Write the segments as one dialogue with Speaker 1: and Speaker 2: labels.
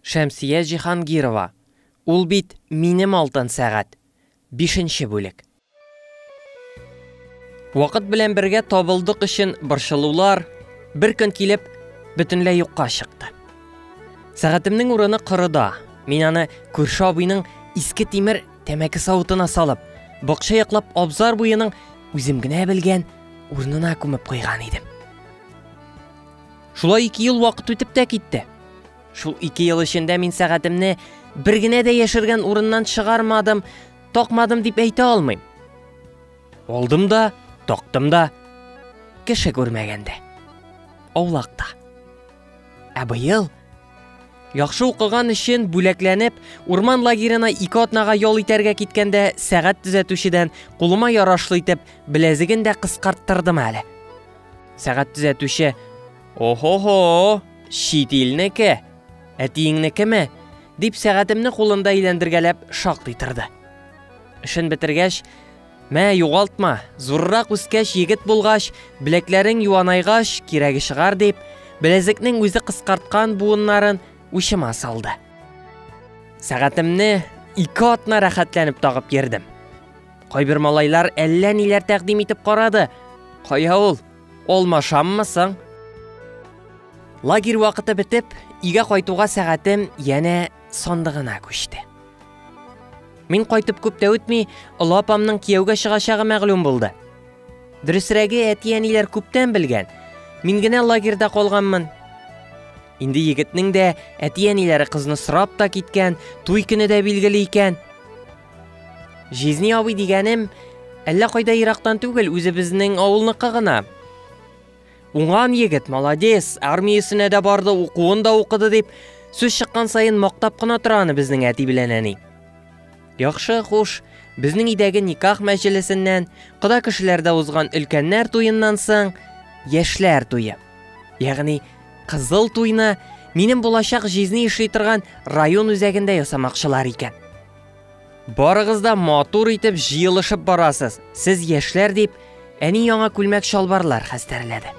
Speaker 1: Шәмсия Җиһангирова, Ул бит минем алтын сәгать! Бишенче бүлек. Вакыт белән бергә табылдык өчен борчылулар бер көн килеп бөтенләй юкка чыкты. Сәгатемнең урыны корыда. Мин аны күрше абыйның иске тимер тәмәке савытына салып, бакча яклап абзар буеның үзем генә белгән урынына күмеп куйган идем. Шулай ике ел вакыт үтеп тә китте. Шул ике ел эчендә мин сәгатемне бер генә дә яшергән урыннан чыгармадым, такмадым дип әйтә алмыйм. Алдым да, тактым да, кеше күрмәгәндә. Аулакта. Ә быел Яхшы укыган өчен бүләкләнеп, урман лагерына ике атнага ял итәргә киткәндә сәгать төзәтүчедән кулыма ярашлы итеп беләзеген дә кыскарттырдым әле. Сәгать төзәтүче, Охо-хо, чит илнеке, әтиеңнекеме? дип сәгатемне кулында әйләндергәләп шактый торды. Эшен бетергәч, мә, югалтма, зуррак үскәч, егет булгач, беләкләрең юанайгач, кирәге чыгар дип, беләзекнең үзе кыскарткан буыннарын учыма салды. Сәгатемне ике атна рәхәтләнеп тагып йөрдем. Кайбер малайлар әллә ниләр тәкъдим итеп карады. Кая ул? Алмашаммы соң? Лагерь вакыты бетеп, өйгә кайтуга сәгатем янә сандыгына күчте. Мин кайтып күп тә үтми, олы апамның кияүгә чыгачагы мәгълүм булды. Дөресрәге, әти-әниләр күптән белгән. Мин генә лагерьда калганмын. Инде егетнең дә әти-әниләре кызны сорап та киткән, туй көне дә билгеле икән. Җизни абый дигәнем, әллә кайда ерактан түгел, үзебезнең авылныкы гына. Уңган егет, молодец, армиясенә дә барды, укуын да укыды дип, сүз чыккан саен мактап кына тора аны безнең әти белән әни. Яхшы, хуш, безнең өйдәге никах мәҗлесеннән, кода кешеләрдә узган өлкәннәр туеннан соң, яшьләр туе. Ягъни кызыл туйны минем булачак җизни эшли торган район үзәгендә ясамакчылар икән. Барыгыз да матур итеп җыелышып барасыз. Сез яшьләр дип, әни яңа күлмәк чалбарлар хәстәрләде.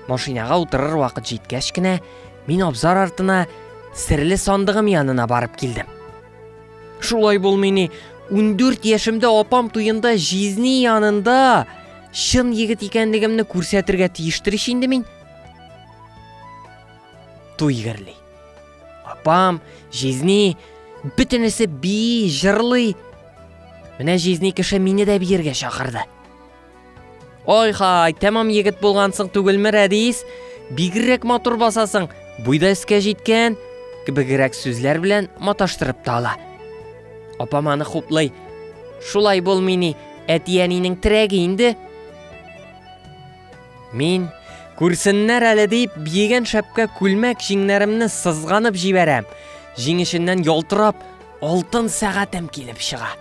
Speaker 1: Машинага утырыр вакыт җиткәч кенә, мин абзар артына серле сандыгым янына барып килдем. Шулай булмый ни, 14 яшемдә апам туенда җизни янында чын егет икәнлегемне күрсәтергә тиештер инде мин. Туй герли. Апам, җизни, бөтенесе би, җырлый. Менә җизни кеше мине дә биергә чакырды. Ой хай, тәмам егет булгансың түгелме, Рәдис? Бигрәк матур басасың, буйда искә җиткән, кебегрәк сүзләр белән маташтырып та ала. Апам аны хуплый. Шулай булмый ни, әти-әнинең терәге инде. Мин, күрсеннәр әле дип, биегән шәпкә күлмәк җиңнәремне сызганып җибәрәм. Җиң эченнән ялтырап, алтын сәгатем килеп чыга.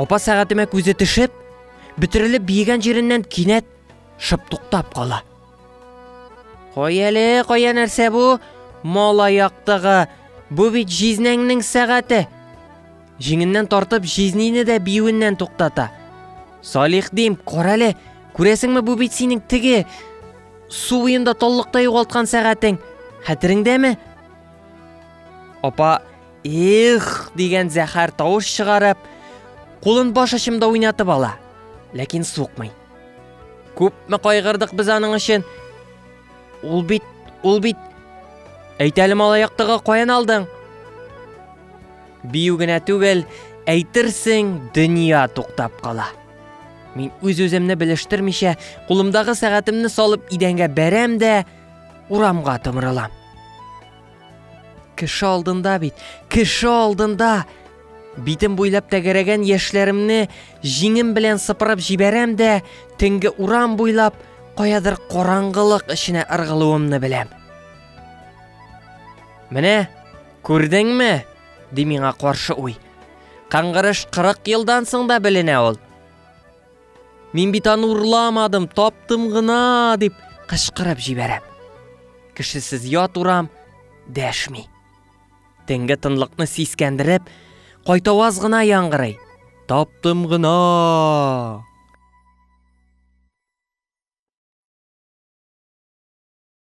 Speaker 1: Апа сәгатемә күзе төшеп, бөтерелеп биегән җиреннән кинәт шып туктап кала. Кай әле, кая нәрсә бу? Мала яктыгы. Бу бит җизнәңнең сәгате. Җиңеннән тартып, җизнине дә биюеннән туктата. Салих дим, карале, күрәсеңме бу бит синең теге су буенда таллыкта югалткан сәгатең. Хәтереңдәме? Апа, их дигән зәһәр тавыш чыгарып, кулын баш очымда уйнатып ала, ләкин сукмый. Күпме кайгырдык без аның өчен. Ул бит, ул бит. Әйтәле малаяктыгы каян алдың? Бию генә түгел, әйтерсең, дөнья туктап кала. Мин үз-үземне белештермичә, кулымдагы сәгатемне салып идәнгә бәрәм дә, урамга томырылам. Кеше алдында бит, кеше алдында! Битем буйлап тәгәрәгән яшьләремне җиңем белән сыпырып җибәрәм дә, төнге урам буйлап каядыр караңгылык эченә ыргылуымны беләм. Менә Күрдеңме? ди миңа каршы уй. Кыңгырыш 40 елдан соң да беленә ул. Мин бит аны урламадым, таптым гына, дип кычкырып җибәрәм. Кешесез ят урам дәшми. Төнге тынлыкны сискәндереп, кайтаваз гына яңгырый. Таптым гына!